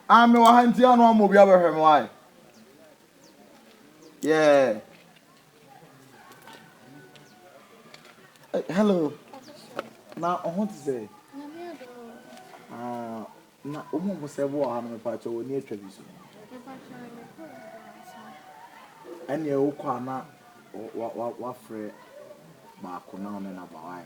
Ah, me wɔ ha nti ano ama obi abɛhwɛ me wae. Yeah. Hey, eh, hello. Na ɔho te sɛ. Ah, na ɔmo ɔmo sɛ ɛbɔ ha no mepa akyɛ wɔ ni atwa bi so. Ɛnna ɛwɔ kɔ ana wafrɛ baako na ɔne na ba wae.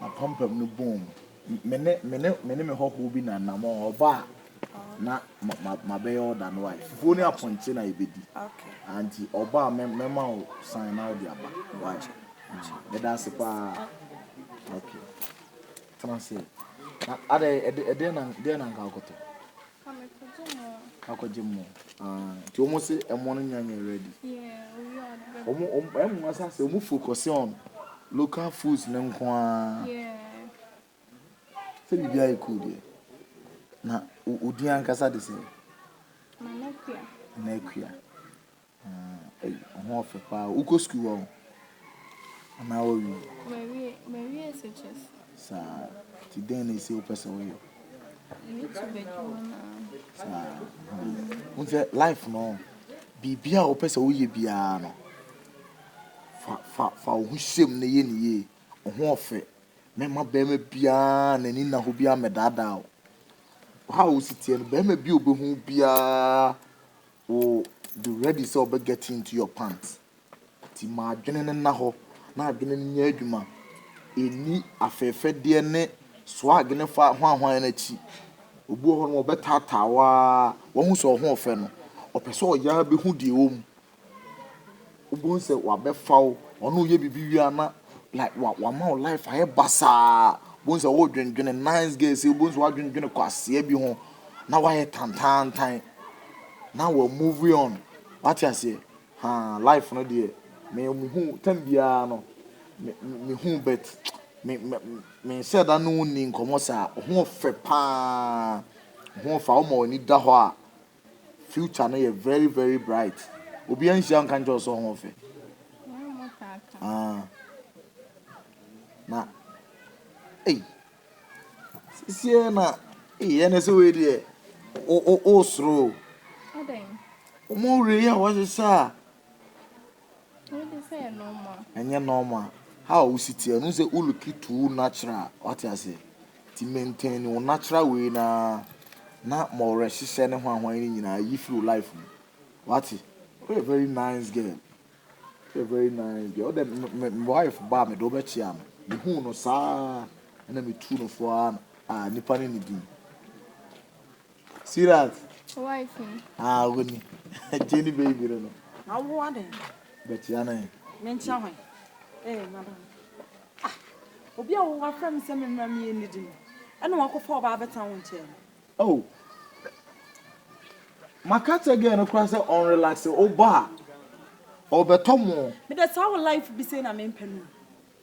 M'apampam no boom. Me ne me ne me ne me hɔhoɔ bi na anammɔn ɔba a na ma ma mabɛyɛ ɔda no wae. Fufuo ne apɔnkye na yɛbɛdi. Okay. Ah, nti ɔba a mɛ mɛma wo san na wode aba. Wae. Mm, meda ase paa. Okay. Tena ase. Na adɛ ɛde ɛdeɛ na deɛ na nka akɔtɔ. Ka me kɔ gye mo. Akɔ gye mo aa nti wɔn se ɛmo no nya nyɛ ready. Yeah owie a ɔde bɛ. Wɔn wɔn ɛmo wɔn asa se wɔn focuse on local foods no nko aa. Yeah. Sɛ bibi ayɛ cool deɛ na odin ankasa de sɛn. Nana kua. Nana kua. Aa ho ɔfɛ paa wokɔ sukuu hɔ anaa wawie. Mawie mawie SHS. Saa ti dɛn na esi wopɛ sɛ woyɛ. YouTube adwuma na. Saa n sɛ life no biribi a wopɛ sɛ woyɛ biara no fa fa fa wo ho hyɛm na yɛ ne yie ɔho ɔfɛ mɛma bɛrima biara n'ani nna hɔ biara mɛdaadaa wo ha a wosi teɛ no bɛrima bi a obehu biara Wo de ready sɛ ɔbɛ get into your pant nti ma adwene no nna hɔ na adwene no nyɛ adwuma, ɛnni afɛɛfɛdeɛ ne swag ne fa hwanhwan no akyi. Obi wɔ hɔ nom ɔbɛ taataa wo ara, wahu sɛ ɔhoɔfɛ no, ɔpɛ sɛ ɔyɛ ara bɛhu deɛ ɛwɔ mu. Wobɛhu sɛ wabɛfa wo, ɔne wo yɛ biribi wie a na like wa wama wo life ayɛ basaa, wobɛhu sɛ wodwendwene nice girls, wobɛhu sɛ wadwendwene kwasea bi ho na wayɛ tantaantan na wa move on, wate aseɛ, haa life no deɛ me mehu tam biara no me mehu bet me me menhyɛ da ne wo nni nkɔmmɔ saa, wo ho ɔfɛ paa, wo ho ɔfɛ a woma w'ani da hɔ a. Future no yɛ very very bright. Obiara nhyia nka nkyerɛ wo sɛ ɔho fɛ. Ah. Na. Ei. Sisiɛ na. Ei, ɛne sɛ wei deɛ. O o o soro. Adɛn? Wɔn wura yi a wɔahyehyɛ a. Wo de sɛ yɛ normal. Ɛnyɛ normal how a wosi teɛ no sɛ wo look too natural wate aseɛ nti maintain wo natural wei no ara na ma ɔwerɛhyehyɛ ne hwanhwan no nyinaa yi firi wo life mu wate woyɛ very nice girl woyɛ very nice girl wode me me wife ba a mede wo bɛkyea no mehuu no saa na metuu no fo ara a nipa no ne din Sirat. Wife ni. Ah, wo ni. Tie ni baby no no. Na wo wa den. Bɛkyia no he. Me nkyia hwan? Eh, madam. Ah, obi a wo wa frɛ me sɛ me mmra me yɛ nnidi no, ɛna wakɔfa ɔbaa abɛtena wo nkyɛn no. Oh, maka kyerɛ girl no koraa sɛ ɔnrelaxe, woba a, ɔbɛtɔ mo. Me de saa wo life bi sei na mempɛ no o.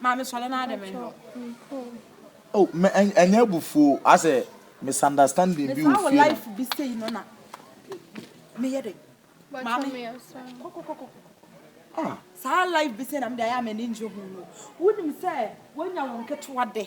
Maame sɔre na ade me no. Oh me ɛnyɛ abufuo asɛ misunderstanding bi wɔ fie no. Mefa wo life bi sei no na me yɛ dɛ. Maame kɔ kɔ kɔ kɔ kɔ. Ah. Saa life bi sei na me de ayɛ a m'ani ngye ho no. Wonim sɛ wonya wo nketewa de.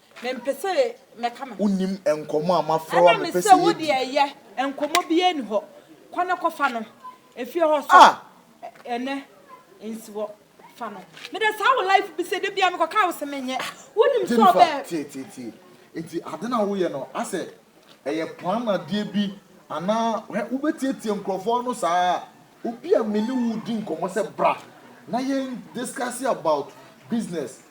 Mempɛ sɛ mɛka me ho. Wonnim nkɔmmɔ a mafrɛ wo a mepɛ sɛ yɛdi. Ɛnam sɛ wo deɛ yɛ, nkɔmmɔ biara nni hɔ. Kɔ na kɔfa no efie hɔ so ɛnnɛ nsi hɔ. Fa no. Meda saa wo life bi sɛ da biara mekɔka wo se menyɛ. Wonim sɛ ɔbɛ. Jennifer, tie, tie, tie. Enti ade no a woyɛ no, asɛ ɛyɛ plan adeɛ bi anaa? Hwɛ, wobɛtiatia nkurɔfoɔ ano saa a, obi a me ne wo redi nkɔmmɔ sɛ bra na yɛn discuss about business,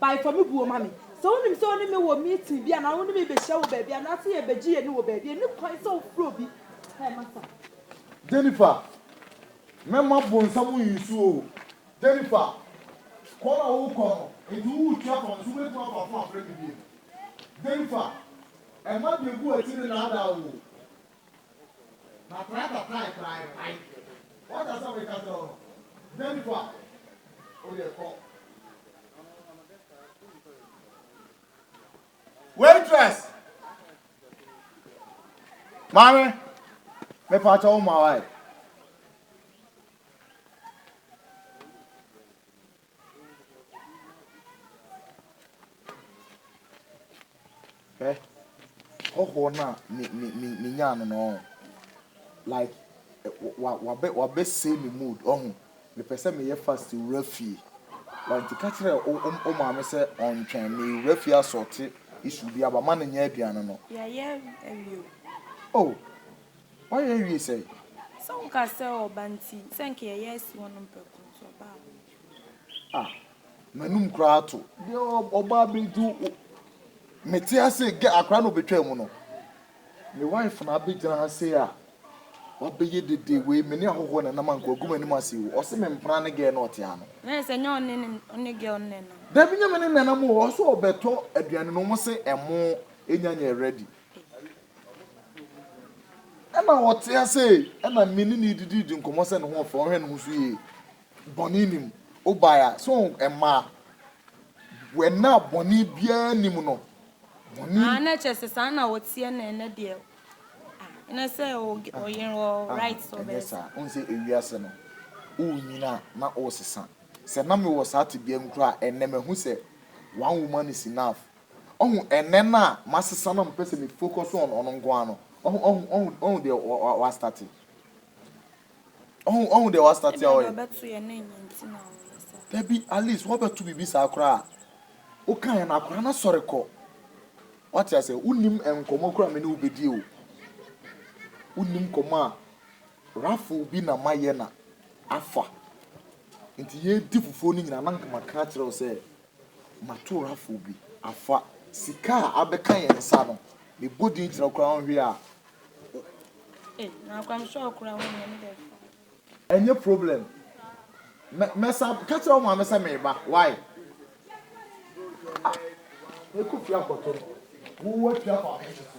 Bae fa me buo ma me. Sɛ wonim sɛ wo ne me wɔ meeting bi anaa wo ne me rebɛhyia wɔ baabi anaasɛ yɛrebɛgye yɛn ani wɔ baabi a, ɛnni kwan sɛ wofrɛ obi. Ɛɛ, masa. Jennifer, Mɛma bonsam nsu o. Jennifer, Kɔ na worekɔ no, enti woretua kwan nso wobɛtumi afa fo afrɛ me bio. Jennifer, Ɛma deɛ ɛgu w'akyi no nnaadaa wo o. Waitress! Maame, me pa cho ma wai. Hwɛ, hɔhoɔ no a me me me menyaa no no ɔho like wa wabɛ wabɛsɛe me mood ɔho mepɛ sɛ meyɛ fast wura fie wa nti ka kyerɛ wo wo wo maame sɛ ɔntwɛn mewura fie asɔɔte issue bi aba ma no nyɛ aduane no. Yɛayɛ awie o. Oh, Ɔyɛ wie sɛn? Sɛ wo ka sɛ ɔba nti sɛ nka yɛyɛ asi hɔ nom prɛko nti ɔbaa hɔ. Ah m'anum koraa ato. Deɛ ɔba abɛdu me te ha sei gɛ akora na ɔbɛtwaa mu no me wife na abɛgyina ha sei a wabɛyɛ dede wei me ne ahɔhoɔ na nam anka wagu m'anim ase o ɔse me mpena ne gɛ na ɔte ha no. Na ɛsɛ nyɛ ɔne ne ɔne gɛ ɔne nenam. Dabi nyɛ me ne nenam o ɔse ɔbɛtɔ aduane no ɔmo se ɛmo ɛnya nyɛ ready Ɛma ɔte ase, ɛna me ne no didi di nkɔmmɔ sɛ ne ho ɔfɛ, ɔhwɛ ne ho so yie, bɔne nnim. Wobae a, so mmaa, wɔn a bɔne biara nnim no, bɔne. Ah, na ɛkyɛ sɛ saa na ɔteɛ na ɛnɛ deɛ, ah, ɛnɛ sɛ ɔyere wɔ right sɛ ɔbɛyɛ saa. Ɛnyɛ saa, ɔnsɛ ewiase no, wonyini a na ɔresesa. Sɛ na mewɔ saa tebea mu koraa a, ɛnɛ mahu sɛ one woman is enough. Ɔho ɛnɛ no a masesa na mepɛ sɛ me focus on ɔno nko ara no, ɔho, ɔho, ɔho, ɔho deɛ wa, wa, wa starte. Ɔho, ɔho deɛ wa starte a ɔyɛ. Dabi, at least wabɛto biribi saa koraa a, woka yɛ no akora na sɔre kɔ. Wate aseɛ, wonim nkɔmɔ koraa me ne wo bɛdie o. Wonim kɔmɔ a raffle bi na mayɛ na afa. Nti yɛredi fufuo no nyinaa na nka maka akyerɛ wo sɛ. Matorafo bi afa sika a abɛka yɛn nsa no, mebɔ din kyerɛ koraa ɔnhwɛ a. Eh, na koraa me sɔɔ koraa ho nyɛ me dɛ. Ɛnyɛ problem. Mɛ, mɛsa, ka kyerɛ wo maame sɛ meba, why? Ah, mɛkɔ fie akɔtɔ no. Wo, woatua kɔ abenkyefo.